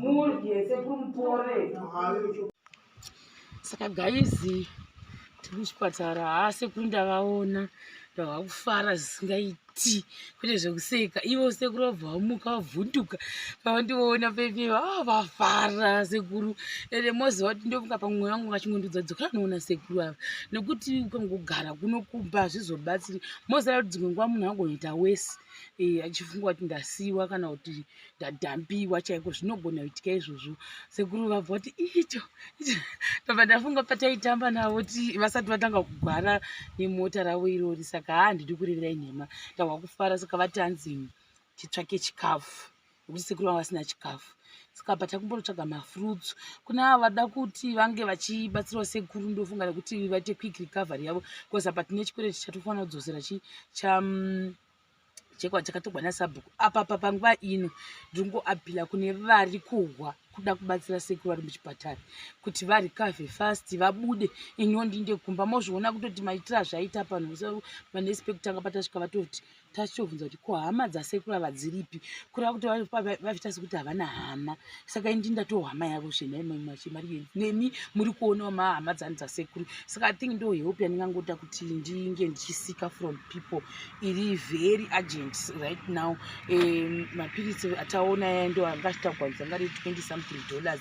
mudye sekuru mupore saka gaizi tiri kuchipatara haa sekuru ndavaona ndava kufara zvisingaiti kwete zvekuseka ivo sekuru vabva vamuka vavhunduka pavandivoona pepeva a ah, vafara sekuru ende moziva kuti ndomuka pamwe mwoyo wangu ngachingondudza dzokera noona sekuru ava nekuti ukangogara kunokumba hazvizobatsiri moziva kuti dzimwe nguva munhu angonoita wesi eh, achifunga kuti ndasiiwa kana kuti ndadhambiwa chaiko zvinogona kuitika izvozvo sekuru vabva kuti icho ndobva ndafunga pataitamba navo ti vasati vatanga kugwara nemota ravo irori saka haa ndidi kureverai nhema ndahwa kufara saka vatanzi titsvake chikafu nekuti sekuru vanga vasina chikafu saka apa takumbonotsvaga mafruits kune ava vada kuti vange vachibatsirawo sekuru ndofunga nekuti vaite quick recovery yavo bcause apa tine chikwere chichatofanira kudzosera chi cha mm, chekwa chakatogwa nasabhuku apa pa panguva ino ndiri kungoapila kune vari kuhwa kuda kubatsira sekuru vari muchipatara kuti varikave fast vabude iniwo ndinde kumba mozviona kutoti maitira zvaita pano so manespect anga patasvika vatoti tachitobvunza kuti ko hama dzasekuru ava dziripi kureva kuti vavita sekuti havana hama saka ini ndindatoo hama yavo zvenaimamachimari nemi muri kuonawo mahama dzani dzasekuru saka i think ndo help yandingangoita kuti ndinge ndichisika from people iri very urgent right now um, mapiritsi ataona yaya ndo anga achitagwanisa ngari 20 something dollars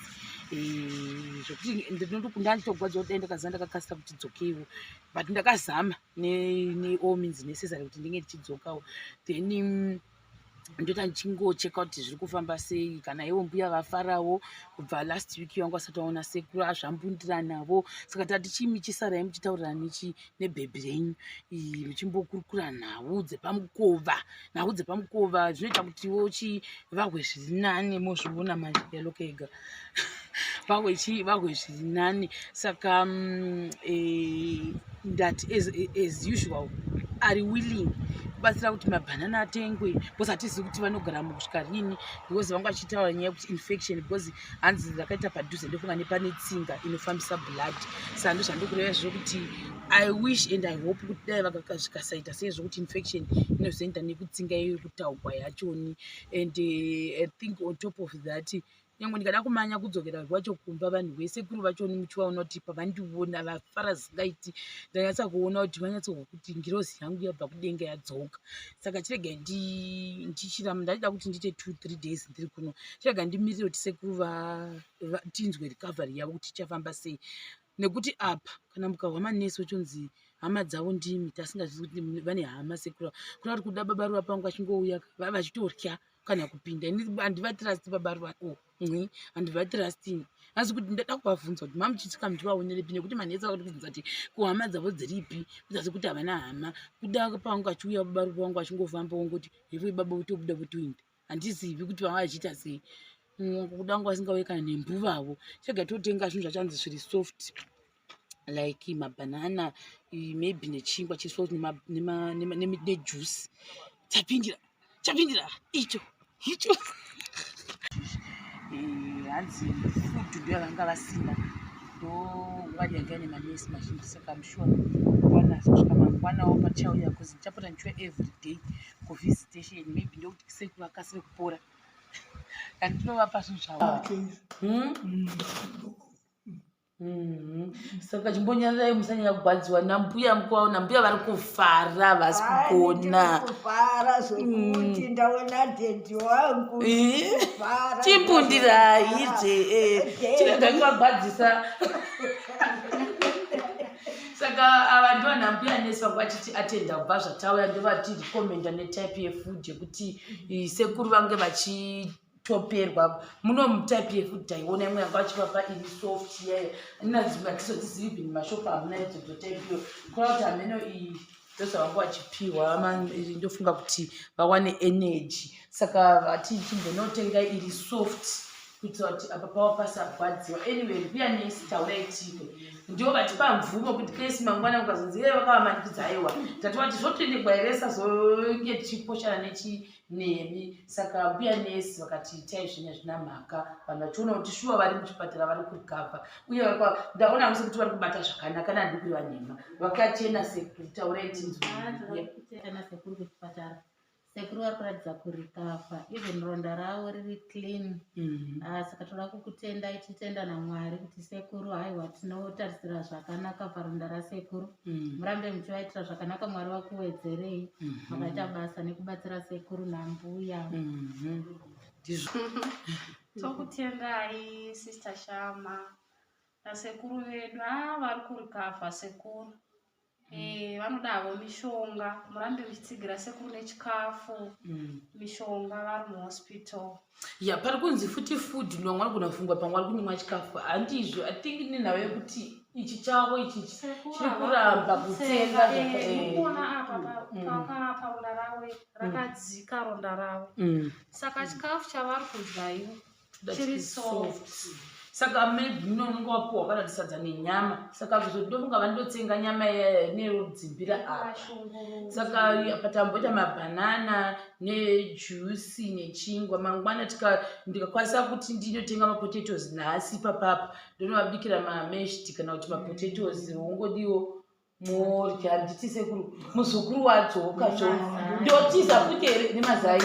zvekuti ndinotokunda nditogwadziwa kuti ndakaziva ndakakasira kuti dzokeiwo but ndakazama neall means necessary kuti ndinge ndichidzokawo then mm, ndoita ndichingocheka kuti zviri kufamba sei kana ivo mbuya vafarawo kubva last week vangu vasati vaona sekuru azvambundira navo saka tati chii michisarai muchitaurira nechi nebhebhi renyu muchimbokurukura nhau dzepamukova nhau dzepamukova zvinoita kutiwo chivahwe zviri nani mozviona manje yaloka ega vahwe chii vahwe zviri nani saka mm, eh, ndati as usual ari willing kubatsira kuti mabhanana atengwe because hatizivi kuti vanogara mukusvika rini because vanga vachitaura nyaya yekuti infection because hanzi ndakaita padhuze ndofunga nepane tsinga inofambisa blood saka ndozvandokureva izvo kuti i wish and i hope kuti dai vakazvikasaita sei zvokuti infection inozoenda nekutsinga iyo kutaugwa yachoni and uh, i think on top of that nyange ndikada kumanya kudzokera kwacho kumba vanhu vese kuri vachoni muchivaona kuti pavandiona vafara zingaiti ndanyatsa kuona kuti vanyatsokuti ngirozi yangu yabva kudenga yadzoka saka chirega ndichira ndaida kuti ndiite two three days ndiri kuno chirega ndimirire kuti sekuru tinzwe recovery yavo kuti ichafamba sei nekuti apa kana mukahwa manesi ochonzi hama dzavo ndimi tasingazii kuti vane hama sekuru kuna kuti kuda baba ruva pangu vachingouya vava vachitorya kana kupinda ini handivatrust baba ruva oh. Nhi, handivatrusting. Asi kuti ndada kuvabvunza kuti mamuchitika muti vaoneripi nekuti manetsa kuti kubvunza kuti kuhama dzavo dziripi kuzasi kuti havana hama kuda pangu achiuya baba ruva wangu achingofamba wongoti hevo ibaba votobuda votoinda handizivi kuti vanga vachiita sei kuda wangu vasingauye kana nembuvavo chega totenga zvinhu zvachanzi zviri soft like mabhanana maybe nechingwa chiso nejuice chapindira chapindira icho icho eh, hanzi food ndo yavanga vasina ndo ngwari yanga ine manesi mazhinji saka msure kwanazosvika mangwanawo pachauya bcause ndichapota ndichiwa everyday kuvisitation maybe ndokuti kisei kuvakasire kupora kani tinovapa zvinhu zvavo ah. hmm? Mhm. saka chimbonyarirai musanyanya kugwadziwa nambuya mkwavo nambuya vari kufara havasi kugona kufara zvekuti Mm. ndaona dhedhi wangu Eh, Kufara, chimbundirai ndazvifara. je eh, Dhedhi. chirega kuvagwadzisa saka ava ndivo nambuya nesi vanga vachiti atenda kubva zvatauya ndovati recommenda netype yefood yekuti eh, sekuru vange vachi toperwa muno mutype yekuti taiona imwe yanga achivapa ini soft yayo inazimatisotizivi bini mashopu hamuna idzodzo type iyo kona kuti hameno iyi ndozavanga vachipiwa ndofunga kuti vawane energy saka vati chimbonotenga iri soft kuitira kuti apa pava pasarwadziwa anyway mbuya nesi taurai tiko ndivo vatipa mvumo kuti kesi mangwana ukazonzi iye vakavamanikidza aiwa tati vati zvotoendegwa here sazonge tichiposhana nechi nemi saka mbuya nesi vakati itai zvinhu hazvina mhaka vanhu vachiona kuti shuwa vari muchipatara vari kurikava uye ndaona vese kuti vari kubata zvakanaka nandi kuri vanhema vakachena sekuru taurai tinzwena sekuru kuchipatara sekuru vari kuratidza kurikava even ronda ravo riri clean mhm. ah, saka toda kukutendai titenda namwari kuti sekuru haiwa tinotarisira zvakanaka paronda rasekuru Mm. murambe muchivaitira zvakanaka mwari vakuwedzerei mm-hmm. makaita mm -hmm. basa nekubatsira sekuru nambuya mm-hmm. tokutendai mm -hmm. sister shama nasekuru vedu a ah, vari kurikavha sekuru mm. e, vanodavo mishonga murambe muchitsigira sekuru nechikafu mm. mishonga vari muhospital ya pari kunzi futi food ndo vanga vanogona kufungwa panga vari kunyimwa chikafu handizvo i think nenhau yekuti ichi chavo ichi chiri kuramba kutsenga zvakaona eh, apa mm. pakapaura ravo mm. rakadzika ronda ravo mm. saka chikafu chavari kudya ivo chiri soft saka maybe mune unenge wapuwa kana ndisadza nenyama saka kuzoti ndomuka vani ndotsenga nyama nerodzimbira apa saka patamboita mabhanana nejusi nechingwa mangwana ndikakwanisa kuti ndinotenga mapotatoes nhasi papapa ndonovabikira mameshti kana kuti mapotatoes wongodiwo Mori handiti sekuru muzukuru wadzoka zvo ndotiza futi here nemazai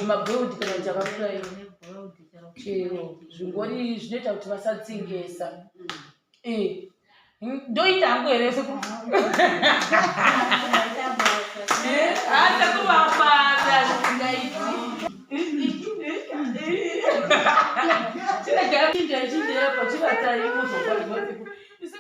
mabwewudi kana kuti akakura ino chero zvingori zvinoita kuti vasatsengesa eh, ndoita hangu here sekuru